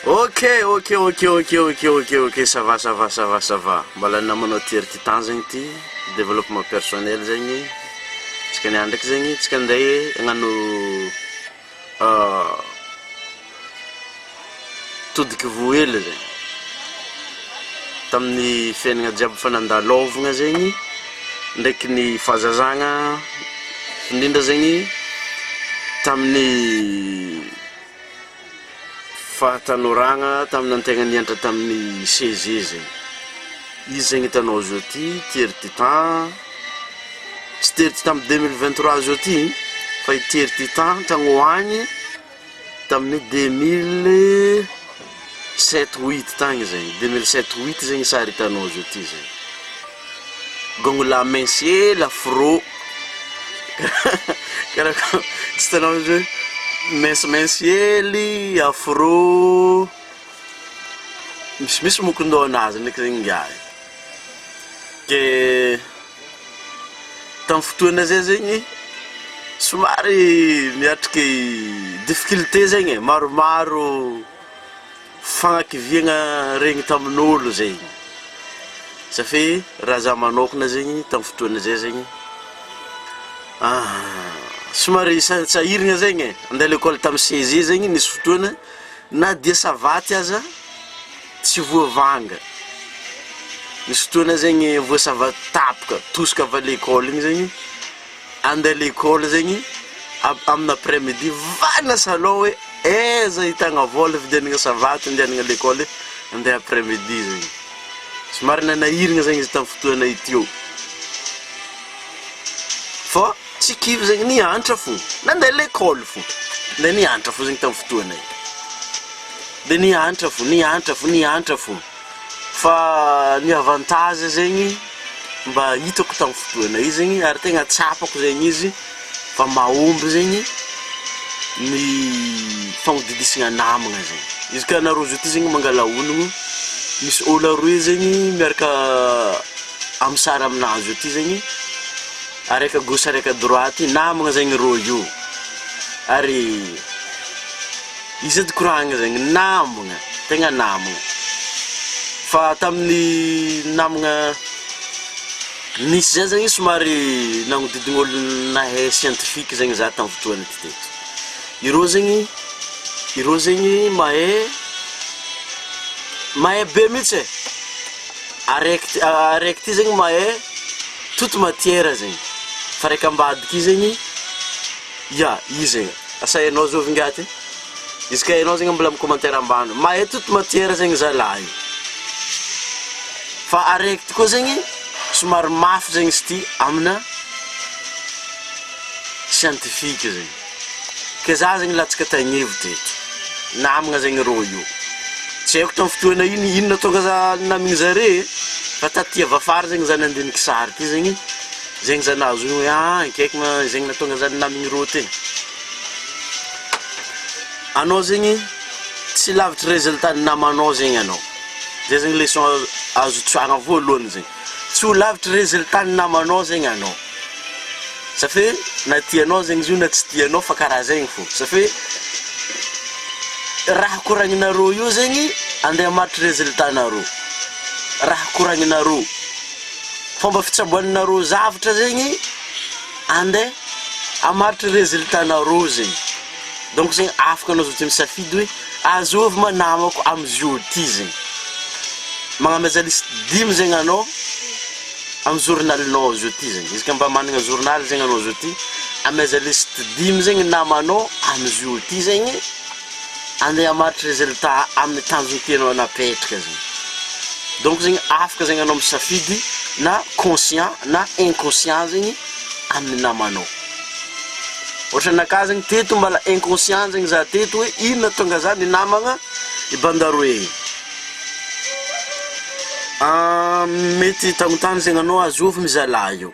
Ok ok ok ok ok ok ok ça va ça va ça va ça va mbola ny namanao ty ry titan zegny ty développement personnel zegny tsika niany ndraiky zegny tsika ndray agnano todiky voa hely zegny tamin'ny fiaignana jiaby efa nandalôvagna zegny ndraiky ny fahazazagna indrindra zegny tamin'ny fahatanoragna tamina ntegna niantra taminy CEG zegny izy zegny itanao zao ty tery ty tan tsy tery ty taminy deux mille vingt trois zao ty fa i tery ty tan tagny ho agny taminy deux mille Sept huit tagny zay, deux mille sept huit zegny sary hitanao zao ty zay, gogno la mince ee l'afro karakory tsy hitanao izy hoe mince mince hely afro misimisy mokon-doha anazy ndraiky zegny ingahy, ke. Tamin'ny fotoana zay zegny, somary miatriky difficulté zegny e, maromaro fagnakiviagna regny tamin'olo zay, satria raha za manokana zegny tamin'ny fotoana zay zegny, somary sahintsahirana zegny e, handeha lekôly tamin'ny CEG zegny nisy fotoana na dia savaty aza. Tsy voavanga, misy fotoana zegny voasava tapoka, tosika avy à l'école igny zegny, andeha l'école zegny, am- amin'ny après midi vanona salon hoe aiza ahitagna vôla ividianagna savate andehanagna l'école andeha après midi zegny, somary nanahiragna zegny izy tamin'ny fotoana ity ô, fô tsy kivy zegny nianatra fô, nandeha l'école fô, le nianatra fô zegny tamin'ny fotoana io. Dia ny hanitra vo, ny hanitra vo, ny hanitra vo. Fa ny avantage zegny mba hitako tamin'ny fotoana io zegny ary tegna tsapako zegny izy fa mahomby zegny ny fagnodidisigna namagna zegny. Izy ka anareo zao ty zegny mangala ologno, misy ôlo aroe zegny miaraka amin'ny sary aminazy zao ty zegny, araika gauche araika droite, namagna zegny roa io ary. Izy edy korahagna zegny namagna tegna namagna fa tamin'ny namagna nisy zay zany somary nagnodidigna olo nahay scientifique zegny za tamin'ny fotoagna ty teto ireo zegny ireo zegny mahay mahay be mitsy e araiky ty araiky ty zegny mahay toute matière zegny fa raiky ambadika io zegny Ya izy zegny asa enao zovy ngiahy ty izy ka enao zegny mbola mi commentaire ambany mahay toute matière zegny zalahy e fa araiky koa zegny somary mafy zegny izy ty amina scientifique zegny ke za zegny latsaka tagnivo teto namagna zegny roa io tsy haiko tam fotoana iny inona tonga za namin zare e fa taty avafara zegny za nandinika sary ty zegny Zegny zany nahazoany hoe aa enkeko ma zegny nahatonga zany namigny roa ty. Anao zegny tsy lavitry résultat ny namanao zegny anao. Zay zegny leçon azo azo tsoahigna voalohany zegny. Tsy ho lavitry résultat ny namanao zegny anao. Sa fe na tianao zegny izy io na tsy tianao fa karaha zegny fô. Sa fe raha koragninareo io zegny andeha hamaritra résultat nareo. Raha koragninareo. Fomba fitsaboaninareo zavtra zegny ande hamaritry résultat nareo zegny donc zegny afaka anao zao misafidy hoe azovy ma namako amy jour ty zegny magnameja liste dimy zegny anao amy journal nao zao ty zegny izy ka mba managna journal zegny anao zao ty ameja liste dimy zegny namanao amy jour ty zegny Andeha hamaritra résultat amin'ny tanjon'ny tianao napetraka zegny. Donc zegny afaka zegny anao misafidy na conscient na inconscient zegny amin'ny namanao. Ohatra anakah zegny teto mbala inconscient zegny za teto hoe inona ahatonga za ny namagna i Bandaroe igny. Mety hitagnotagno zegny anao azovy ny zalahy io.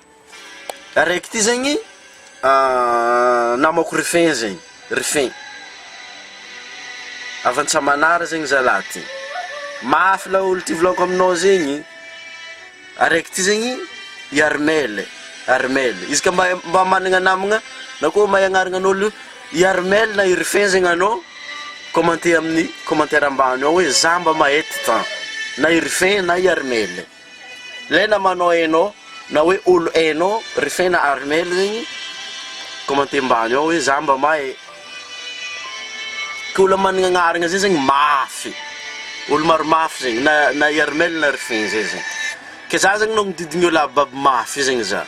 Araiky ity zegny namako rifin zegny, rifin avy Antsamanara zegny zalahy ty, mafy laolo ty volako aminao zegny, araiky ty zegny i Armel, Armel izy ka mba managna namagna na koa mahay agnarana an'olo i Armel na i rifin zegny anao commenter amin'ny commentaire ambany ao hoe za mba mahay titan na i rifin na i Armel. Ilay namanao hainao na hoe olo hainao ry fena armel zegny commenter mbany ao hoe za mba mahay ka olo amanigna agnaragna zay zegny mafy olo maro mafy zegny na na i armel na ry fena zay zegny ke za zegny nagnodidigny olo abab mafy zegny za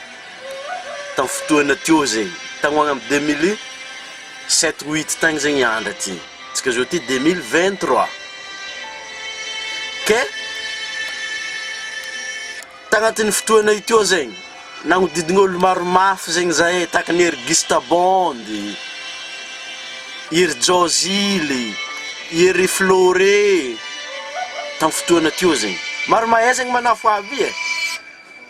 tam fotoagna teo zegny tagn ho agny am deux mille Sept ou huit tagny zegny andry aty tsika zao ty deux mille vingt trois ke tagnatin'ny fotoana itoa zegny nagnodidign'olo maro mafy zegny zahe tahaka ny ery gista bondy, ery jaozily, ery flore tam fotoana teo zegny maro mahe zegny manafo aby e.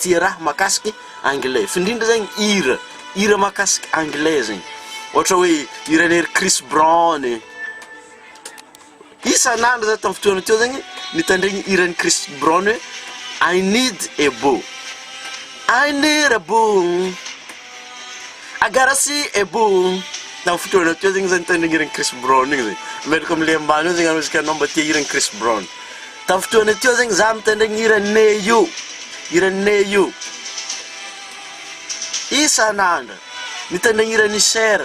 Tia raha mahakasika anglais, f'indrindra zegny hira, hira mahakasika anglais zegny, ohatra hoe hiran'ery Chris Brown e, isan'andro zah tam fotoana teo zegny mitandregny hiran'i Chris Brown hoe I need a boo, I need a boo, Agara sy Ebo tamin'ny fotoana teo zegny zany tao nihirany Chris Brown igny zegny, meloka amle ambany ao zegny anao izy ka anao mba te hihira an'i Chris Brown, tamin'ny fotoana teo zegny za mitandregny ny hiran'i Ney io, hiran'i Ney io, isan'andro, mitandregny hiran'i Cher.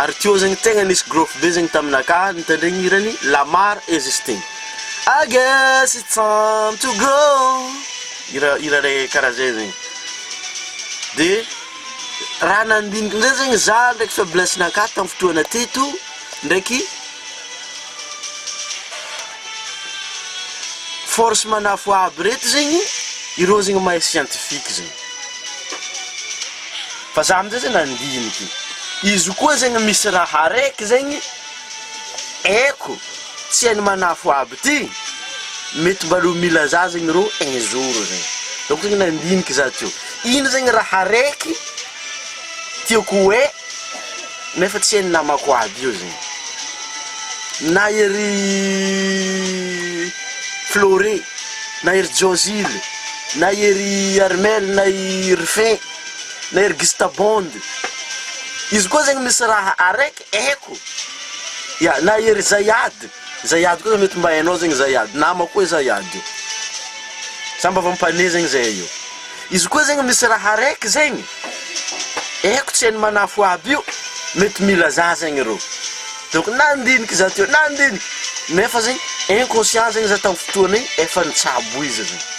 Ary teo zegny tegna nisy growth be zegny taminaka nitandregny hiran'i Lamar Existing I guess it's time to grow hira hira le karaha zay zegny de raha nandiniky amizay zegny za ndraiky faiblesse naka tam fotoana teto ndraiky force manafo aby reto zegny ireo zegny mahay scientifique zegny. Fa za amizay zay nandiniky izy koa zegny misy raha araiky zegny aiko tsy hainy manafo aby ty mety mbal ho mila za zegny rô un jour zegny donc zegny nandiniky za teo ino zegny raha araiky tiako ho hay nefa tsy hainy namako aby io zegny na ery flore na ery jozile na ery armel na i rfin Nergista Bond. Izy koa zegny misy raha araiky haiko, ya, na ery Zayad, Zayad koa zany mety mba hainao zegny Zayad, namako koa i Zayad io, za mba voampane zegny zahay io, izy koa zegny misy raha araiky zegny haiko tsy hain'ny manafo aby io, mety mila za zegny rô, donc nandiniky za teo, nandiniky, nefa zegny inconscient zegny za tam fotoana igny efa nitsabo izy zegny.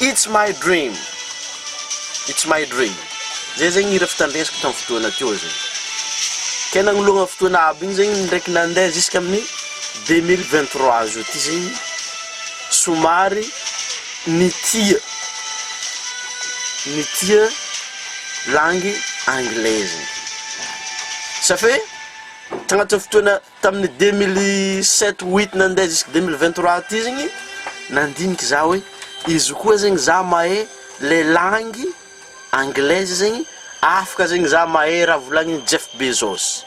It's my dream, it's my dream zay zegny hira fitandrezako tam fotoana teo zegny ke nagnologna fotoana aby igny zegny ndraiky nande ziskamin'ny deux mille vingt trois zao ty zegny somary nitia nitia langue anglaise sa fe tagnatin'ny fotoana Tamin'ny deux mille sept huit nandeha jusque deux mille vingt trois aty zegny nandinika za hoe izy koa zegny za mahay le langue anglaise zegny afaka zegny za mahay raha volagnin'i Jeff Bezos,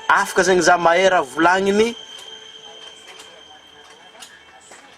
afaka zegny za mahay raha volagnin'i.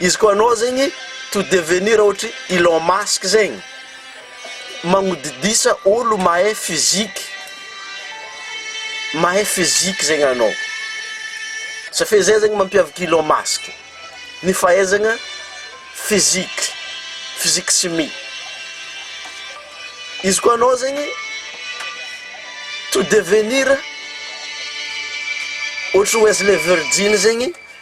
Izy koa anao zegny to devenir ohatry Elon Musk zegny, magnodidisa olo mahay physique, mahay physique zegny anao, ça fait zay zegny mampiavaka Elon Musk, ny fahaizagna physique, physique chimie. Izy koa anao zegny to devenir ohatry Wesley Virgin zegny.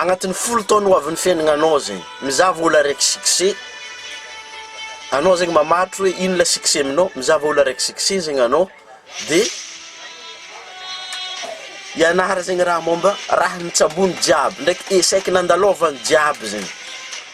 Agnatin'ny folo taona ho avy ny fiainagnanao zegny, mizaha vao olo araiky succès, anao zegny mamaritra hoe ino ilay succès aminao, mizaha vao olo araiky succès zegny anao, de ianara zegny raha mômba raha nitsabony jiaby, ndraiky échec nandalôvany jiaby zegny.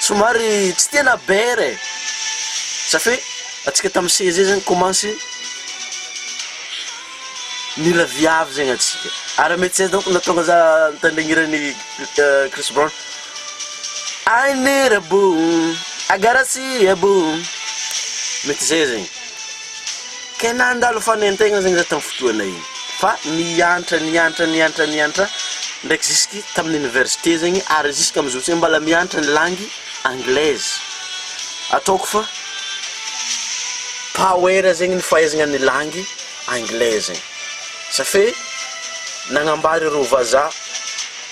Somary tsy tena ber e! Za fe antsika tam CEG zegny commence nila viavy zegny antsika ary amy ETSE donc nahatonga za nitandregny hiran'i Chris Brown I need a boom I gotta see a boom mety zay zegny. Kena handalo fanentegna zegny za tam fotoagna igny fa niantra niantra niantra niantra ndraiky jusky tamin'ny université zegny ary juska amzao tsy mbala miantra ny langue anglaise ataoko fa power zegny ny fahaizagna ny langue anglaise zegny safe nagnambara ireo vazaha